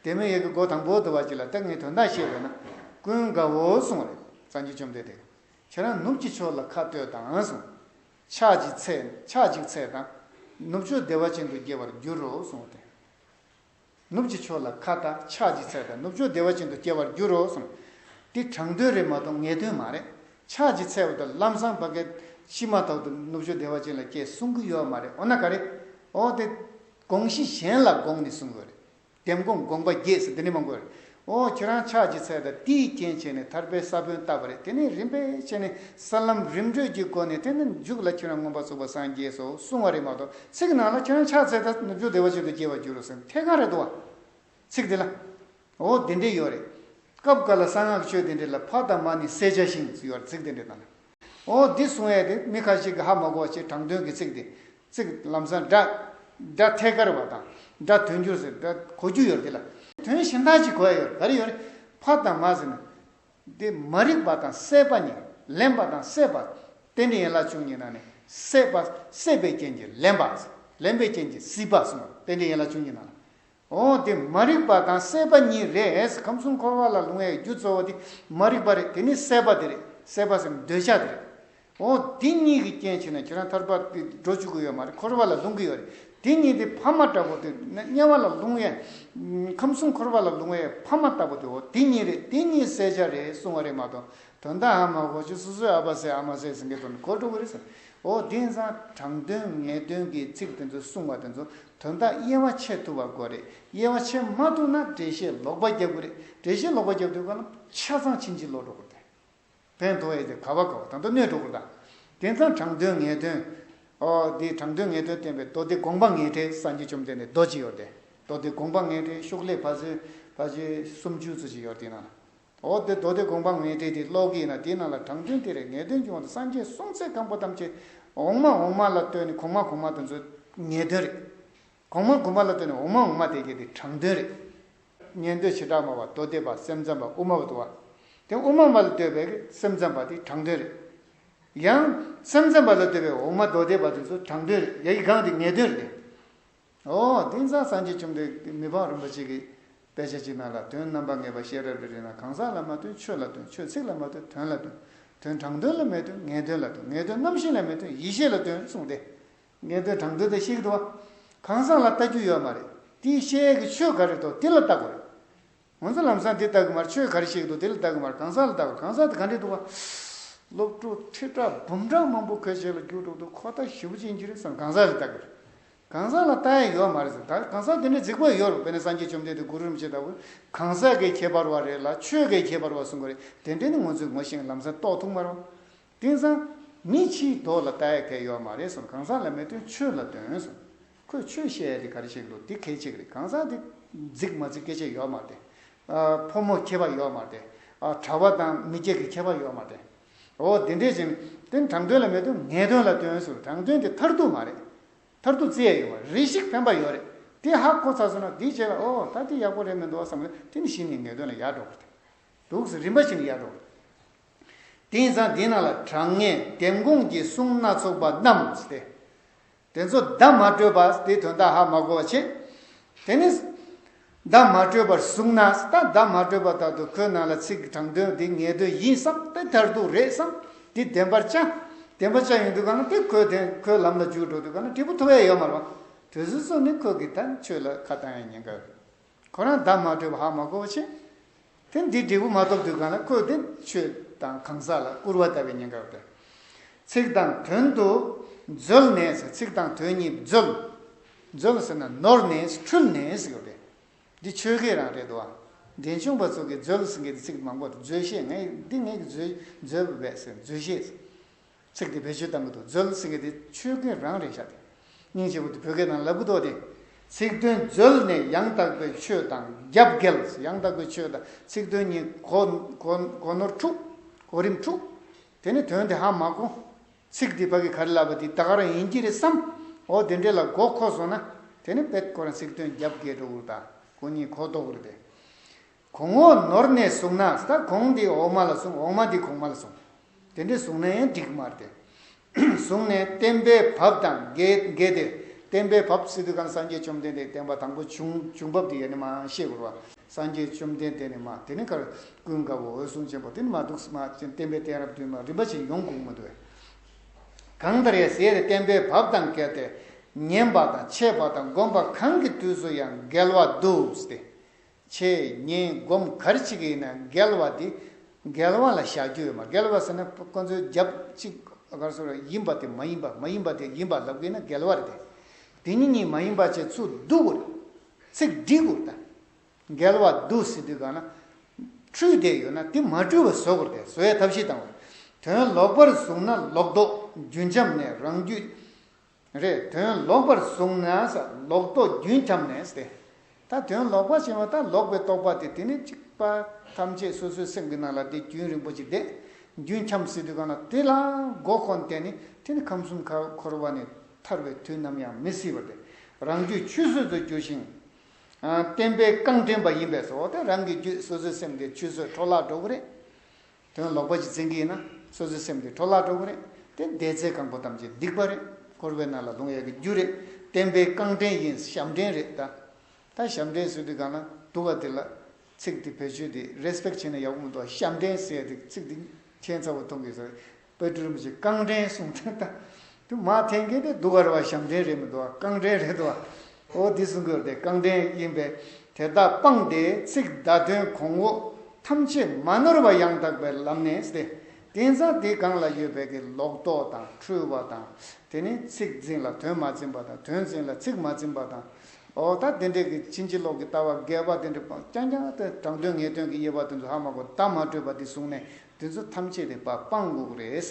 བདེ་མོའི་ཡས་ཀྱི་སྒོ་དང་པོ་དུ་བ་གཅིག་ལ་སྟག་སྔའི་དོན་དག་བཤད་པས་ན། ཀུན་དགའ་བོ་གསུང་བ་རེད་གཙང་གཅུས་བཅོམ་ལྡན་འདས། ཁྱེད་རང་ནུབ་ཀྱི་ཕྱོགས་ལ་ཁ་ལྟོས་དང་གསུང། ཕྱག་ཅིག་འཚལ་ཕྱག་ཅིག་འཚལ་དང། ནུབ་ཕྱོགས་བདེ་བ་ཅན་དུ་སྐྱེ་བར་འགྱུར་རོ་གསུང་བ་དེ། ནུབ་ཀྱི་ཕྱོགས་ལ་ཁ་བལྟ་ཕྱག་གཅིག་འཚལ་ལ་ནུབ་ཕྱོགས་བདེ་བ་ཅན་དུ་སྐྱེ་བར་འགྱུར་རོ་གསུངས། འདི་དྲང་དོན་རེད་མ་གཏོགས་ངེས་དོན་མ་རེད། ཕྱག་གཅིག་འཚལ་བ་དང་ལམ་སང་བ་གད་ཕྱིས་མ་ཐག་ཏུ་ནུབ་ཕྱོགས་བདེ་བ་ཅན་ལ་སྐྱེ་གསུང་གི་ཡོད་མ་རེད་འོ་ན་ག་རེ། འོ་དེ་དགོངས་གཞི་གཞན་ལ་དགོངས་ནས་གསུང་གི་རེད། དེབ་དགོངས་དགོངས་པ་རྒྱས་སུ་འདི་ནས་མ་འགོད་རེད། ཨོ་ཁྱེད་རང་ཕྱག་གཅིག་འཚལ་དང་དེའི་རྐྱེན་བྱས་ནས་ཐར་པའི་ས་བོན་བཏབ་པ་རེད་དེ་ནས་རིམ་པས་བྱས་ནས་ས་ལམ་རིམ་བགྲོད་ཀྱི་སྒོ་ནས་དེ་ནས་མཇུག་ལ་ཁྱེད་རང་མངོན་པར་རྫོགས་པར་སངས་རྒྱས་སོ་གསུང་བ་རེད་མ་གཏོགས་ཚིག་ནང་ལ་ཁྱེད་རང་ཕྱག་འཚལ་དང་ནུབ་ཕྱོགས་བདེ་བ་ཅན་དུ་སྐྱེ་བར་འགྱུར་རོ་ཟེར་ཐལ་གང་རེད་དོ། ཚིག་དེ་ལ། ཨོ་དེ་འདྲས་ཡོད་རེད། སྐབས་འགར་ལ་གསང་སྔགས་ཆོས་དེ་འདྲས་ལ་ཕ་དང་མ་ནི་བསད་བྱ་ཞིང་ཟེར་བར་ཚིག་དེ་འདྲས་དང། ཨོ་འདི་གསུང་ཨེ་དེ་མི་ཁ་ཤིག་གི་ཧ་མ་གོ་ཞེས་དྲང་དོན་གྱི་ཚིག་དེ། ཚིག་ལམ་སང་སྒྲ། སྒྲ་ཐད་ཀར་བ་དང། སྒྲ་དོན་འགྱུར་ཟེར་སྒྲ་གོ་རྒྱུ་ཡོད་དེ་ལ། དོན་གཞན་དག་ཅིག་གོ་ཨེ་ཡོད་ག་རེ་ཡོད། ཕ་དང་མ་ཟེར་ན། འདི་མ་རིག་པ་དང་སྲེད་པ་གཉིས་ལེན་པ་དང་སྲེད་པ། དེ་ནི་ཡན་ལག་བཅུ་གཉིས་ནང་ནས་སྲེད་པ་སྲེད་པའི་རྐྱེན་གྱིས་ལེན་པ། ལེན་པའི་རྐྱེན་གྱིས་སྲིད་པ་གསུངས་པ་དེ་འདྲའི་ཡན་ལག་བཅུ་གཉིས་ནང་ལ། འོང་དེ་མ་རིག་པ་དང་སྲེད་པ་གཉིས་རེད་ཁམས་གསུམ་འཁོར་བ་ལ་ལྷུང་བའི་རྒྱུ་གཙོ་བོ་དེ་མ་རིག་པ་རེད་དེ་ནི་སྲེད་པ་དེ་རེད་སྲེད་པ་སེམས་འདོད་ཆགས་དེ་རེད་འོང་དེ་གཉིས་ཀྱི་རྐྱེན་བྱས་ན་ཁྱེད་རང་ཐར་པ་དེ་འགྲོ་བཅུག་གི་ཡོད་མ་རེད་འཁོར་བ་ལ་ལྷུང་གི་ཡོད་རེད་དེ་གཉིས་དེ་ཕ་མ་འདྲ་པོ་དེ་དམྱལ་བ་ལ་ལྷུང་བའི་ཁམས་གསུམ་འཁོར་བ་ལ་ལྷུང་བའི་ཕ་མ་ལྟ་བུ་དེ་འོ་དེ་གཉིས་རེད་དེ་གཉིས་བསལ་བྱ་རེད་གསུང་བ་རེད་མ་གཏོགས་དོན་དག་ཧ་མ་གོ་ཆོད་སོ་སོའི་ཨ་ཕ་སྲས་ཨ་མ་སྲས་ཟེར་མཁན་དོན་གོ་འགྲོ་གི་རེད་ཟེར་འོ་དེ་ཡིན་ཙང་དྲང་དོན་ངེས་དོན་གྱི་ཚིག་དེ་ཚོ་གསུང་བ་དེ་ཚོ་དོན་དག་དབྱེ་བ་ཕྱེ་ཐུབ་པ་དགོས་རེད་དབྱེ་བ་ཕྱེ་མ་ཐུབ་ན་འགྲེལ་བཤད་ལོག་པ་རྒྱབ་དགོས་རེད་འགྲེལ་བཤད་ལོག་པ་རྒྱབ་དུས་གནམ་ཆ་ཚང་ཕྱིན་ཅི་ལོག་འགྲོ་དགོས་རེད་བན་དོ་ཨེ་དེ་ག་བ་ག་བ་དང་དུ་གནས་འགྲོ་དགོས་རེད་དེ་མཚམས་དྲང་དོན་ངེས་དོན་ཨོ་དེ་དྲང་དོན་ངེས་དོན་བསྟན་པའི་མདོ་སྡེ་དགོངས་པ་ངེས་འགྲེལ་སངས་རྒྱས་བཅོམ་ལྡན་འདས་རྡོ་རྗེ་ཡོར་དེ་མདོ་སྡེ་དགོངས་པ་ངེས་འགྲེལ་ཤུགས་ལས་ཕ་ཚོལ་ཕ་ཚོལ་སུམ་བཅུ་ཚུལ་བཞི་ཡོར་དེ་ནང་འོ་དེ་མདོ་སྡེ་དགོངས་པ་ངེས་འགྲེལ་དེ་ཀློག་གི་ཡིན་ན་དེའི་ནང་ལ་དྲང་དོན་དེ་རེད་ངེས་དོན་གྱི་དབང་དུ་སངས་རྒྱས་གསུང་ཚད་གང་པོ་ཐམས་ཅད་འོག་མ་འོག་མ་ལ་ལྟོས་ནས་གོང་མ་གོང་མ་དུ་འཛོལ་ངེས་དོན་རེད། གོང་མ་གོང་མ་ལ་ལྟོས་ནས་འོག་མ་འོག་མ་དེ་གྱེས་དེ་དྲང་དོན་རེད། ཉན་ཐོས་བྱེ་བྲག་སྨྲ་བ་མདོ་སྡེ་པ་སེམས་ཙམ་པ་དབུ་མ་པ་དུ་བ། དེ་དབུ་མ་པ་ལ་ལྟོས་པའི་སེམས་ཙམ་པ་དེ་དྲང་དོན་རེད། ཡང། སེམས་ཙམ་པ་ལ་ལྟོས་པའི་འོག་མ་མདོ་སྡེ་པ་དུ་འཛོལ་དྲང་དོན་རེད་ཡ་ཡི་སྒང་དེ་ངེས་དོན་རེད། འོ་དིང་སང་སངས་རྒྱས་བཅོམ་ལྡན་འདས་མི་ཕམ་རིན་པོ་ཆེ་གིས་དཔེ་ཆ་གཅིག་ནང་ལ་དོན་རྣམ་པ་ངེས་པ་ཤེས་རབ་རི་རེད་ན་གང་ཟག་ལ་མ་ལྟོས་ཆོས་ལ་ལྟོས་ཆོས་ཚིག་ལ་མ་ལྟོས་དོན་ལ་ལྟོས་དོན་དྲང་དོན་ལ་མི་ལྟོས་ངེས་དོན་ལ་ལྟོས་ངེས་དོན་རྣམ་ཤེས་ལ་མི་ལྟོས་ཡིད་ཤེས་ལ་ལྟོས་གསུངས་ཏེ། ངེས་དོན་དྲང་དོན་དང་ཤེས་ཀྱི་འདུག་བ། གང་ཟག་ལ་ལྟ་རྒྱུ་ཡོད་མ་རེད་དེའི་ཤེས་ཡས་ཀྱི་ཆོས་ག་རེ་ཐོག་དེ་ལ་ལྟ་དགོས་རེད། ང་ཚོ་ལམ་སང་འདི་ལྟ་གི་མར་ཆོས་ག་རེ་ཞིག་འདུག་དེ་ལ་ལྟ་གི་མར་གང་ཟག་ལ་ལྟ་གི་གང་ཟག་དེ་ག་འདྲས་འདུག་བ། སློབ་ཕྲུག་ཁྲི་ཕྲག་འབུམ་ཕྲག་མང་པོ་ཁོས་བྱས་ལ་རྒྱུགས་འགྲོ་འདུག་ཁོ་ད་ཞི་བུ་ཅན་གྱི་རེད་བསམ་གང་ཟག་རེ་ལྟ་གི་རེད། གང་ཟག་ལ་ལྟ་ཡ་ཡོད་མ་རེད་བསམ་ད་གང་ཟག་དེ་འདྲས་རྫིག་པོ་ཡ་ཡོད་རེད་དཔེར་ན་སངས་རྒྱས་བཅོམ་ལྡན་འདས་གུ་རུ་རིན་པོ་ཆེ་ལྟ་བུས་གང་ཟག་གི་ཁྱད་པར་བ་རེད་ལ་ཆོས་གའི་ཁྱད་པར་བ་གསུངས་གི་རེད་དེ་འདྲས་ནི་ངོ་ཚོས་ངོ་ཤེས་ངས་ལམ་སང་རྟོགས་ཐུག་མ་རེད་བ། དེང་སང། མི་ཕྱིའི་ཐོག་ལ་ད་ཡ་གལ་ཡོད་མ་རེད་གསུངས་གང་ཟག་ལ་མི་སྟོན་ཆོས་ལ་སྟོན་གསུངས། ཁོས་ཆོས་བཤད་ཡ་དེ་ག་རེ་བཤད་གི་འདུག་དེ་གལ་ཆེ་གི་རེད་གང་ཟག་དེ། རྫིག་མ་རྫིག་སྐད་ཆ་ཡོད་མ་རེད་དེ། ཕོ་མོ་ཁྱད་པ་ཡོད་མ་རེད་དེ། གྲྭ་བ་དང་མི་སྐྱ་གི་ཁྱད་པ་ཡོད་མ་རེད། འོ་དེ་འདྲས་བྱས་ན། དེ་དྲང་དོན་ལ་མི་སྟོན་ངན་དོན་ལ་སྟོན་གསུངས་དྲང་དོན་དེ་མཐར་ཐུག་མ་རེད། མཐར་ཐུག་བརྩི་ཡ་ཡོད་མ་རེད་རེ་ཞིག་ཕན་པ་ཡོད་རེད་དེ་ཧ་གོ་ཚར་སོང་ན་དེའི་རྗེས་ལ་འོ་ད་དེ་ཡག་པོ་རེད་མི་འདུག་བསམ་ལ་དེ་ནི་གཞི་ནས་ངན་དོན་ལ་ཡར་འགྲོ་དགོས་རེད་འདུག་གསུངས་རིམ་པ་བཞིན་ཡར་འགྲོ་དགོས་རེད། དེ་ཡིན་ཙང་དེའི་ནང་ལ་དྲང་ངེས་ལྡེམ་དགོངས་ཀྱི་གསུང་སྣ་ཚོགས་པ་རྣམས་སྟེ། དེ་ཚོ་བརྡ་མ་སྤྲོད་པ་དེའི་དོན་དག་ཧ་མ་གོ་བར་བྱེད། དེ་ནི། བརྡ་མ་སྤྲོད་པར་གསུངས་ན་ད་བརྡ་མ་སྤྲོད་པ་དག་ཏུ་ཁོའི་ནང་ལ་ཚིག་གི་དྲང་དོན་དེ་ངེས་དོན་ཡིན་བསམ་སྟེ་མཐར་ཐུག་རེད་བསམ་སྟེ་བདེན་པར་བཅའ། བདེན་པར་བཅའ་ཡོང་དུས་གང་ན་དེ་ཁོའི་དོན་ཁོའི་ལམ་ལ་འཇུག་འགྲོ་དུས་གང་ན་འབྲས་བུ་ཐོབ་ཡ་ཡོད་མ་རུང། དོལ་ཟུར་ཚོ་ནི་ཁོ་གི་ད་ཆོས་ལ་ཁ་བཏང་ཡ་ཉན་དགའ། ཁོ་རང་བདག་མ་བསྒྲོད་པ་ཧ་མ་གོ་བ་བྱས། དེ་འདི་འབྲས་བུ་མ་ཐོབ་དུས་གང་ལ་བཀོད་དེ་ཆོས་དང་གང་ཟག་ལ་སྐུར་བ་ལྟ་བའི་ཉེན་ཁར་འདོད། ཚིག་དང་དོན་དུ་འཛོལ་ནས་ཟེར་ཚིག་དང་དོན་གཉིས་འཛོལ། འཛོལ་ཟེར་ན་ནོར་ནས་འཁྲུལ་ནས་ཟེར་བས། འདི་ཆོས་ཁས་རང་རེད་དོ། འགྲེལ་ཆུང་བ་ཚོ་གིས་འཛོལ་ཟེར་མཁན་གྱི་ཚིག་མང་པོར་འཛོལ་བཤད་ངས་འདི་ངས་ཀྱི་འཛོལ་འཛོལ་བས་ཟེར་འཛོལ་བཤད། ཚིག་དེ་བེད་སྤྱོད་དམ་པོ་དང་མཛོད་ཚིག་གི་དེ་ཆོས་སྐུའི་རང་རེད་ཤ་སྟེ། སྙིང་རྗེ་བོ་དེ་བོད་སྐད་ནང་ལ་སྤུ་ཏོ་སྟེ། ཚིག་དོན་མཛོད་ནི་ཡང་དག་པའི་ཆོས་དང་རྒྱབ་འགལ། ཡང་དག་པའི་ཆོས་དང་ཚིག་དོན་གཉིས་གོ་ནོར་འཁྲུག། གོ་རིམ་འཁྲུག། དེ་ནི་དོན་དེ་ཧ་མ་གོ། ཚིག་དེ་ཕ་གི་གར་ལབ་པ་དེ་ད་གར་ཡིན་གྱི་རེད་བསམ། འོ་དེ་འདྲས་ལ་གོ་ཁོ་སོང་ན་དེ་ནི་པད་སྐོར་ཚིག་དོན་རྒྱབ་འགལ་འགྲོ་གུར་དང་གོ་གཉིས་གོ་ལྡོག་གུར་དེ། གོང་འོག་ནོར་གནས་གསུངས་ན་ས་གོང་འདི་འོག་མ་ལ་གསུངས་འོག་མ་འདི་གོང་མ་ལ་གསུངས། དེ་འདྲའི་གསུངས་ན་ཡང་འགྲིག་མ་རེད། གསུངས་ནས་བསྟན་པའི་བབས་དང་འགལ་ཏེ། བསྟན་པའི་བབས་སི་ཏུ་ཁང་སངས་རྒྱས་བཅོམ་ལྡན་འདས་བསྟན་པ་དང་པོ་བྱུང་བྱུང་བབས་དེ་ཡེ་ནས་མ་ཤེས་བུར་བ་སངས་རྒྱས་བཅོམ་ལྡན་འདས་ནས་མ་དེ་ནས་ཁར་ཀུན་དགའ་བོ་འོད་སྲུང་ཆེན་པོ་དེ་ནས་མ་འདུག་མ་བསྟན་པའི་བསྟན་རབ་བདུན་མ་རིམ་པ་བཞིན་ཡོངས་གུག་མ་འདུག། གང་ལྟར་ཡང་ཟེར་བསྟན་པའི་བབས་དང་འགལ་ཏེ། ཉན་པ་དང་འཆད་པ་དང་སྒོམ་པ་གང་གི་དུས་སུ་ཡང་འགལ་བ་འདུག་སྟེ། ཆེ་ཉེས་སྒོམ་གར་གཅིག་ཡིན་ན་འགལ་བ་དེ་འགལ་བ་ལ་བཞག་རྒྱུ་ཡོད་མ་འགལ་བ་ཟེར་ན་ཁོ་ཚོའི་རྒྱབ་གཅིག་གར་སོ་རེད་ཡིན་པ་དེ་མ་ཡིན་པ་མ་ཡིན་པ་དེ་ཡིན་པ་ལབ་གི་ན་འགལ་བ་རེད་དེ་དེ་གཉིས་གཉིས་མ་ཡིན་པ་བྱེད་ཚུལ་སྡུག་གོ་རེད་ཚིག་སྒྲིག་གོ་རེད་ད་འགལ་བ་སྡུག་ཟེར་དུས་གང་ན་འཁྲུལ་བསྡད་ཡོད་ན་དེ་མ་འཁྲུལ་བ་བཟོ་གོ་རེད་བཟོ་བའི་ཐབས་ཤེས་དང་བ་དོན་ལོག་པར་བཟུང་ན་ལོག་རྟོག་རྒྱུན་འབྱམས་ནས་རང་རྒྱུད་རེད་དོན་ལོག་པར་བཟུང་ན་ས་ལོག་རྟོག་རྒྱུན་འཁྱམས་ནས་ཏེ། ད་དོན་ལོག་པ་ཞེས་པ་ད་ལོག་པའི་རྟོག་པ་དེ་དེ་ནས་གཅིག་པ་ཐམས་ཅད་སོ་སོའི་སེམས་ཀྱི་ནང་ལ་དེ་རྒྱུན་རིང་པོ་ཅི་བསྡད་རྒྱུན་འཁྱམས་སྲིད་དུས་གང་ལ་དེ་ལ་མགོ་འཁོར་འདས་ནས་དེ་ནི་ཁམས་གསུམ་ཁ་འཁོར་བ་ནས་ཐར་བའི་དུས་ནམ་ཡང་མི་སྲིད་པར་ཏེ་རང་རྒྱུད་ཆུད་ཟོས་སུ་འགྱུར་ཞིང། བསྟན་པའི་རྐང་འདྲེན་པ་ཡིན་པས་སོ་ཏེ་རང་གི་རྒྱུད་སོ་སོའི་སེམས་དེ་ཆུད་ཟོས་འཕྲོ་བརླག་འགྲོ་གི་རེད། དོན་ལོག་པ་གྱི་རྩིང་གིས་ན་སོ་སོའི་སེམས་དེ་འཕྲོ་བརླག་འགྲོ་གི་རེད་དེ་བདེ་རྩའི་གང་པོ་ཐམས་ཅད་སྡིག་པ་རེད་འཁོར་བའི་ནང་ལ་ལྷུང་ཡ་གི་རྒྱུ་རེད་བསྟན་པའི་རྐང་འདྲེན་ཡིན་ཞབས་འདྲེན་རེད་ད་ད་ཞབས་འདྲེན་ཟེར་དུས་གང་ན་འདུག་ག་དེ་ལ་ཚིག་དེ་བེད་སྤྱོད་དེ Respect བྱེད་ན་ཡག་པོ་མི་འདུག་ག་ཞབས་འདྲེན་ཟེར་དེ་ཚིག་དེ་ཁྱད་མཚར་བོ་མཐོང་གི་ཟེར་བོད་སྤྲུལ་རིན་པོ་ཆེ་རྐང་འདྲེན་གསུང་དོན་ད་དུ་མ་འཐེན་གྱིན་དེ་སྡུག་གར་བ་ཞབས་འདྲེན་རེད་མི་འདུག་བ་རྐང་འདྲེན་རེད་འདུག་བ། ཨོ་འདི་སྲུང་སྐྱོབ་དེ་རྐང་འདྲེན་ཡིན་པས་དེ་དག་སྤངས་ཏེ་ཚིག་བརྡ་དོན་གོང་འོག་ཐམས་ཅད་མ་ནོར་བ་ཡང་དག་པའི་ལམ་ནས་སྟེ། དེང་སང་དེའི་སྒང་ལ་ཡོད་པའི་གི་ལོག་རྟོག་དང་འཁྲུལ་བ་དང་དེ་ནི་ཚིག་འཛིན་ལ་དོན་མ་འཛིན་པ་དང་དོན་འཛིན་ལ་ཚིག་མ་འཛིན་པ་དང། ཨོ་ད་དེ་འདྲས་གི་ཕྱིན་ཅི་ལོག་གི་ལྟ་བ་འགལ་བ་དེ་འདྲས་སྤངས་རྐྱང་རྐྱང་དེ་དྲང་དོན་ངེས་དོན་གི་དབྱེ་བ་དེ་ཚོ་ཧ་མ་གོ་ད་མ་སྤྲོས་པ་དེ་བཟུང་ནས་དེ་ཚོ་ཐམས་ཅད་དེ་སྤ་སྤངས་འགུགས་རེད།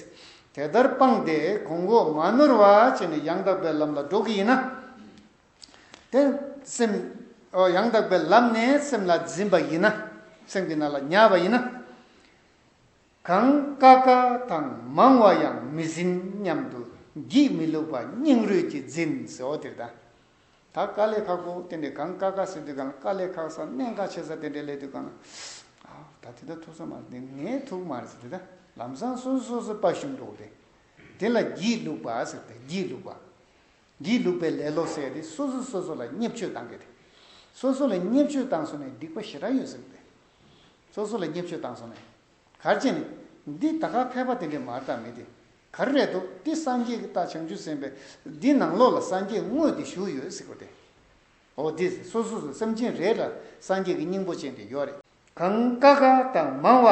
དེ་ལྟར་སྤངས་ཏེ་གོང་འོག་མ་ནོར་བར་བྱས་ནས་ཡང་དག་པའི་ལམ་ལ་འགྲོ་གི་ཡིན་ན། དེ་སེམས། ཡང་དག་པའི་ལམ་ནས་སེམས་ལ་འཛིན་པ་ཡིན་ན། སེམས་ཀྱི་ནང་ལ་ཉལ་བ་ཡིན་ན། གང་དཀའ་དཀའ་དང་མང་བ་ཡང་མི་འཛིན་སྙམ་དུ་འགྱིག་མི་བླུགས་པ་སྙིང་རུས་ཀྱིས་འཛིན། ད་དཀའ་ལས་ཁག་པོ་དེ་འདྲའི་གང་དཀའ་དཀའ་ཟེར་དུས་གང་ལ་དཀའ་ལས་ཁག་ས་གནས་འགའ་ཆེ་ས་དེ་འདྲའི་སླད་དུ་གང་ལ། ད་དེ་དག་ཐུག་ས་མ་རེད་དེ་ངའི་ཐུག་མ་རེད་ཟེར་དེ་དག་ལམ་སང་སོ་སོ་སོ་སོའི་དཔའ་ཞུམ་འགྲོ་དེ། དེ་ལ་སྒྱིད་ལུག་པ་ཟེར་དེ་སྒྱིད་ལུག་པ། སྒྱིད་ལུག་པའི་ལས་ལོ་ཟེར་དེ་སོ་སོ་སོ་སོ་ལ་བརྙས་བཅོས་བཏང་གི་དེ། སོ་སོ་ལ་བརྙས་བཅོས་བཏང་སོང་ནས་སྡིག་པ་ཞེ་དྲག་ཡོད་ཟེར་དེ། སོ་སོ་ལ་བརྙས་བཅོས་བཏང་སོང་ནས། གར་བྱེད་ནི། འདི་ད་ག་ཕལ་པ་དེ་འདྲའི་མར་དག་མེད་དེ། ག་རེ་རེད་དོ་འདི་སངས་རྒྱས་ཀྱི་རྟགས་བྱང་ཆུབ་སེམས་དཔའ་འདི་ནང་ལོགས་ལ་སངས་རྒྱས་དངོས་དེ་བཞུགས་ཡོད་ཟེར་གོ་དེ་འོ་དེ་སོ་སོ་སོ་སེམས་ཅན་རེ་ལ་སངས་རྒྱས་ཀྱི་སྙིང་པོ་ཅན་དེ་ཡོད་རེད། གང་དཀའ་དཀའ་དང་མང་བ་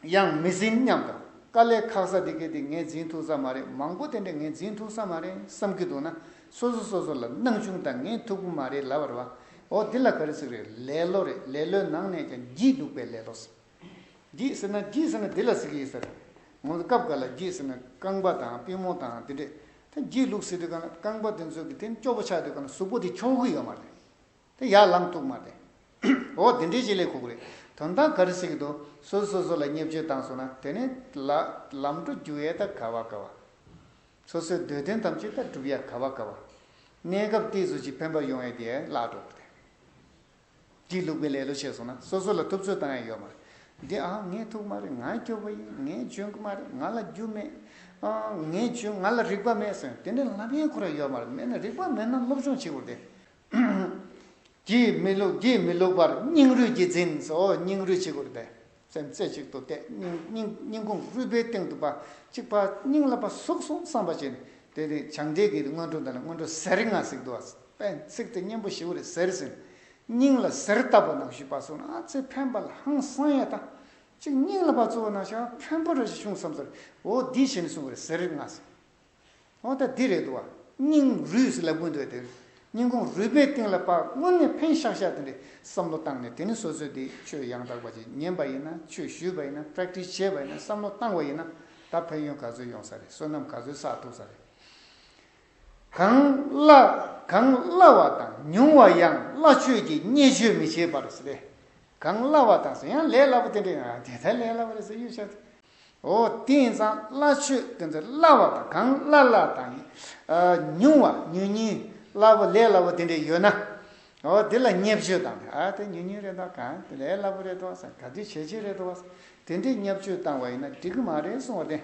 ཡང་མི་ཟིན་སྙམ་དང་དཀའ་ལས་ཁག་ས་དེ་གེ་དེ་ངས་འཛིན་ཐུག་ས་མ་རེད་མང་པོ་དེ་འདྲ་ངས་འཛིན་ཐུག་ས་མ་རེད་བསམ་གྱི་འདུག་ན་སོ་སོ་སོ་སོ་ལ་སྣང་ཆུང་དང་ངས་ཐུག་པོ་མ་རེད་ལབ་རེད་བ་འོ་དེ་ལ་ག་རེ་ཟེར་རེད་ལེ་ལོ་རེད་ལེ་ལོའི་ནང་ནས་ཀྱང་བགྱིས་འདུག་པས་ལེ་ལོ་ཟེར། བགྱིད་ཟེར་ན་བགྱིད་ཟེར་ན་དེ་ལ་ཟེར་གྱི་ཡོད་ཟེར། ངོ་ཚ་སྐབས་འགའ་ལ་བགྱིད་ཟེར་ན་རྐང་པ་དང་པུས་མོ་དང་དེ་འདྲས་ད་བགྱིད་ལུགས་ཟེར་དུས་ག་ན་རྐང་པ་དེ་ཚོས་གི་དེ་ཅོག་པོ་ཆགས་དུས་ག་ན་གཟུགས་པོ་དེ་འཁྱོངས་གི་ཡོད་མ་རེད། དེ་ཡར་ལངས་ཐུབ་མ་རེད། འོ་དེ་འདྲས་ཅིག་ལས་ཁུག་རེད་དོན་དག་ག་རེ་ཟེར་གི་འདུག་སོ་སོ་སོ་ལ་བརྙས་བཅོས་བཏང་སོང་ན་དེ་ནས་ལ་ལམ་འགྲོ་རྒྱུ་ཨེ་ད་ག་བ་ག་བ། སོ་སོའི་འདོད་དོན་ཐམས་ཅད་ད་སྒྲུབ་ཡ་ག་བ་ག་བ། གནས་སྐབས་ཏིས་སུ་ཅིག་ཕན་པ་ཡོང་ཡ་དེ་ལ་འགྲོ་དེ། དེའི་ལུགས་པའི་ལེ་ལོ་བྱས་སོང་ན་སོ་སོ་ལ་ཐུབ་ཚོད་བཏང་ཡ་ཡོད་མ་རེད། འདི་ཨང་ངས་ཐུག་མ་རེད་ང་སྐྱོ་བོ་ཡིན་ངས་འཇོན་གི་མ་རེད་ང་ལ་རྒྱུ་མེད། ཨང་ངས་འཇོན་ང་ལ་རིག་པ་མེད་ཟེར་དེ་འདྲའི་ལབ་ཡེངས་ཁོ་ར་ཡོད་མ་རེད་མེད་ན་རིག་པ་མེད་ན་སློབ་སྦྱོང་བྱེད་དགོས་རེད། ཨང། གྱིས་མི་ལུགས་གྱིས་མི་ལུགས་པར་སྙིང་རུས་ཀྱིས་འཛིན་སོ་སྙིང་རུས་བྱེད་དགོས་རེད། སེམས་རྩེ་གཅིག་ཏུ་གཏད། སྙིང་ཁུང་རུས་པའི་སྟེང་དུ་པ་གཅིག་པ། སྙིང་ལ་པ་ཟུག་སོང་བསམ་པ་བྱས་ནས། དེ་ནས་བྱང་འདྲེས་ཀྱི་སྔོན་འགྲོ་འདི་ལ་སྔོན་འགྲོ་ཟས་རིགས་ལྔ་གཟིགས་འདུག་བ། པས་ཚིག་དེ་གཉེན་པོ་བཞི་བོ་རེ་ཟེར་ཟིན། སྙིང་ལ་ཟེར་བཏབ་པ་ནང་བཞུགས་པ་སོགས་ན་ཚའི་འཕན་པ་ལ་ཧང་སང་ཡ་དང། གཅིག་སྙིང་ལ་པ་གཙོ་བོ་ན་ཤ་འཕན་པོ་རེ་ཞིག་བྱུང་བསམ་ཚར། འོ་འདི་བྱས་ནས་གསུངས་པ་རེ་ཟས་རིགས་ལྔ་གཟིགས། ཨོ་ད་འདི་རེད་འདུག་བ། སྙིང་རུས་སི་ལ་ཀུན་འདུག་དེར། སྙིང་ཁོང་རུས་པའི་གཏིང་ལ་དཔག་སྔོན་ནས་ཕན་ཤག་ཤག་དེ་འདྲའི་བསམ་བློ་བཏང་ནས་དེ་ནི་སོ་སོའི་དེ་ཆོས་ཡང་དག་པ་ཅིག་ཉན་པ་ཡིན་ན་ཆོས་ཞུས་པ་ཡིན་ན Practice བྱས་པ་ཡིན་ན་བསམ་བློ་བཏང་བ་ཡིན་ན་ད་ཕན་ཡོན་ག་ཚོད་ཡོང་ས་རེད་བསོད་ནམས་ག་ཚོད་བསགས་ཐུབ་ས་རེད། གང་བླ་གང་བླ་བ་དང་ཉུང་བ་ཡང་བླ་ཆོས་ཀྱི་བརྙས་བཅོས་མི་བྱེད་པར་རེད། གང་བླ་བ་དང་ཡང་ལས་སླ་པོ་དེ་འདྲའི་ཡང་དེ་ལྟར་ལས་སླ་བ་རེད་ཟེར་གཡུག་ཤག་དེ། འོ་དེང་སང་སླ་ཆོས་དེ་ཚོ་སླ་བ་དང་གང་སླ་སླ་དང། ཉུང་བ་ཉུང་ཉུང་སླ་བོ་ལས་སླ་བོ་དེ་འདྲས་ཡོད་ན། འོ་དེ་ལ་བརྙས་བཅོས་བཏང་ནས་ཨ་དེ་ཉུང་ཉུང་རེད་དོ་གང་དེ་ལས་སླ་བོ་རེད་དོ་ཟེར་ག་དུས་བྱས་བྱས་རེད་དོ་དེ་འདྲས་བརྙས་བཅོས་བཏང་བ་ཡིན་ན་འགྲིག་གི་མ་རེད་གསུང་བ་དེ།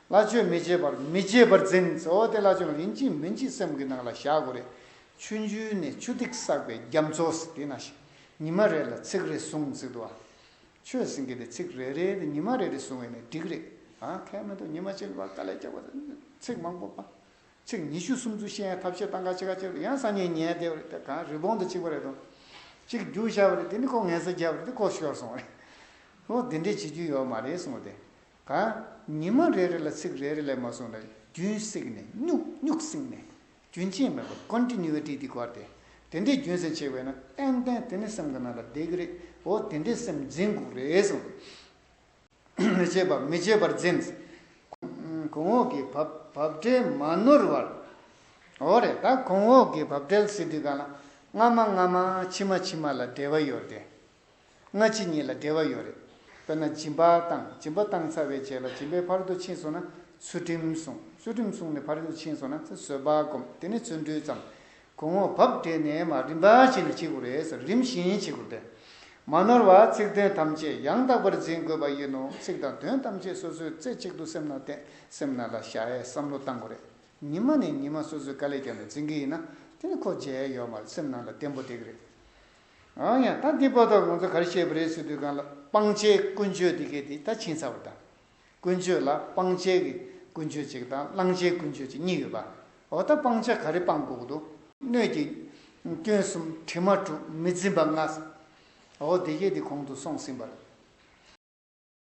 སླ་ཆོས་མི་བྱེད་པར་མི་བྱེད་པར་འཛིན་འོ་དེ་སླ་ཆོས་ཡིན་གཅིག་མིན་གཅིག་སེམས་ཀྱི་ནང་ལ་བཞག་དགོས་རེད། ཆུ་འཇུས་ནས་ཆུ་ཐིགས་བསགས་པའི་རྒྱ་མཚོ་ཟེར་དེ་ན་ཞིག་ཉི་མ་རེ་ལ་ཚིག་རེ་ཟུང་ཟིག་འདུག་ཨ། ཆོས་ཟིན་གི་རེད་ཚིག་རེ་རེ་ནི་ཉི་མ་རེ་རེ་བཟུང་བས་ནི་འགྲིག་རེད་ཨ་ཁས་མི་འདུག་ཉི་མ་ཆེན་པོ་དཀའ་ལས་རྒྱབ་པ་ནི་ཚིག་མང་པོ་པ། ཚིག་ཉི་ཤུ་སུམ་ཅུ་བཤད་ཡང་ཐབས་ཤེས་སྟངས་ཁ་ཕྱེ་ཁ་ཕྱེ་རེད་ཡང་སང་ཉིན་ཉལ་བསྡད་པ་རེད་དེ་གང་རི་བོང་དུ་གཅིག་པ་རེད་དོ། གཅིག་རྒྱུགས་བཞག་པ་རེད་དེ་ནི་ཁོ་ངལ་སེ་རྒྱབ་པ་རེད་དེ་ཁོ་ཤོར་སོང་བ་རེད། ཁོ་འདི་འདྲས་བྱེད་རྒྱུ་ཡོད་མ་རེད་གསུངས་བ་དེ་གང། ཉི་མ་རེ་རེ་ལ་ཚིག་རེ་རེ་ལས་མ་གསུངས་ན་རྒྱུན་བསྲེགས་ནས་སྙུག་སྙུག་བསྲིངས་ནས་རྒྱུན་ཆད་མེད་པར Continuity དེ་བསྐོར་ཏེ། དེ་འདྲའི་རྒྱུན་ཟིན་ཆེ་བས་ན་ཏན་ཏན་དེ་ནི་སེམས་ཀྱི་ནང་ལ་བསྡད་ཀྱི་རེད་འོ་དེ་འདྲའི་སེམས་འཛིན་དགོས་རེད་སོང། མི་བྱེད་པ་མི་བྱེད་པར་འཛིན། གོང་འོག་གི་བབ་བྲལ་མ་ནོར་བར། འོ་རེད་ད་གོང་འོག་གི་བབ་བྲལ་ཟེར་དུས་ག་ལ་སྔ་མ་སྔ་མ་ཕྱི་མ་ཕྱི་མ་ལ་འབྲེལ་བ་ཡོད་དེ། སྔ་ཕྱི་གཉིས་ལ་འབྲེལ་བ་ཡོད་རེད། དཔེར་ན་སྦྱིན་པ་བཏང་སྦྱིན་པ་བཏང་ཚར་བའི་རྗེས་ལ་སྦྱིན་པའི་ཕར་དུ་ཕྱིན་སོང་ན་ཚུལ་ཁྲིམས་སྲུང་ཚུལ་ཁྲིམས་སྲུང་ནས་ཕར་ཕྱིན་སོང་ན་ཚེ་བསོད་བག་འགོམ་དེ་ནི་ཚུལ་འཁྲུལ་ཙམ། གོང་འོག་བབ་སྦྲེལ་ནས་མ་རིམ་པར་བྱས་ནས་བྱེད་དགོས་རེད་ཟེར་རིམ་བཞིན་བྱེད་དགོས་པས། མ་ནོར་བར་ཚིག་དོན་ཐམས་ཅད་ཡང་དག་པར་འཛིན་དགོས་པ་ཡིན་ནོ་ཚིག་དང་དོན་ཐམས་ཅད་སོ་སོའི་རྩེ་གཅིག་ཏུ་སེམས་ན་བརྟེན་སེམས་ན་ལ་ཤ་ཡའི་བསམ་བློ་བཏང་དགོས་རེད། ཉི་མ་ནས་ཉི་མ་སོ་སོའི་དཀའ་ལས་ཀྱང་ནས་འཛིན་གྱི་ཡིན་ན་དེ་ནི་ཁོ་རྗེས་ཡོད་མ་རེད་སེམས་ན་ལ་བརྟན་པོ་བསྡད་ཀྱི་རེད། འང་ཡང་ད་འདི་པོ་ད་ང་ཚོ་ག་རེ་བཤད་པ་རེད་ཟེར་དུས་གང་ལ་སྤང་བྱའི་ཀུན་སྤྱོད་འདི་གས་དེ་ད་ཕྱིན་ཚར་བ་དང། ཀུན་སྤྱོད་ལ་སྤང་བྱའི་གི་ཀུན་སྤྱོད་ཅིག་དང་བླང་བྱའི་ཀུན་སྤྱོད་ཅིག་གཉིས་ཡོད་པ། འོ་ད་སྤང་བྱ་ག་རེ་སྤང་དགོས་ཀྱི་འདུག། སྣོད་ཀྱི། སྐྱོན་གསུམ་དྲི་མ་དྲུག་མི་འཛིན་པ་ལྔ། འོ་དེ་གས་དེ་གོང་དུ་སོང་ཟིན་པར།